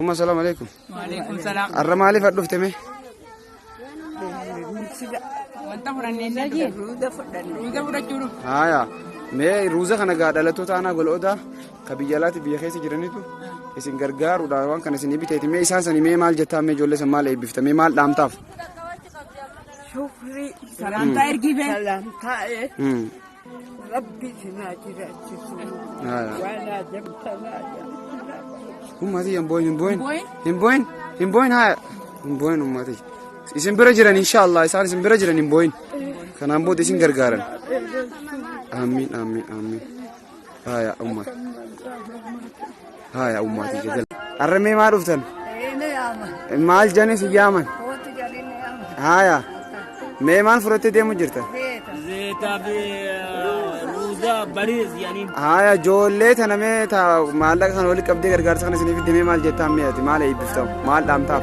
Umma salaam alaikum. Waalaikum salaam. Har'a maaliif as dhufte mee? Wanta fudhannee hin dhagee. Ruuza fudhachuu dhufu. Haaya mee ruuza kana gaa dhalattoota aanaa gol'oodaa Ka biyya alaatti biyya keessa jiranitu isin gargaaruudhaan waan kana isin biteeti mee isaan sani mee maal jettaa mee ijoollee san maal eebbifta mee maal dhaamtaaf. Shukrii. Salaamtaa ergii bee. Salaamtaa ee. Rabbi sinaa jiraachisu. Waan ajabtanaa jiraachisu. Ummati hin booyin hin booyin. Hin booyin hin booyin haa hin booyin ummati. Isin bira jiran inshaallah isaan isin bira jiran hin booyin. Kanaan booda isin gargaaran. Amiin amiin amiin. Haya umma. Haya ummaati jazal. Arramee maa dhuftan? Maal jane si yaaman? Haya. Mee maal fudhattee deemu jirta? Zeeta fi ruuza bariis yaani. Haya ijoollee tana mee ta maallaqa kana walitti qabdee gargaarsa kana isiniif demee maal jettaan mee ati maal eebbiftamu maal dhaamtaaf?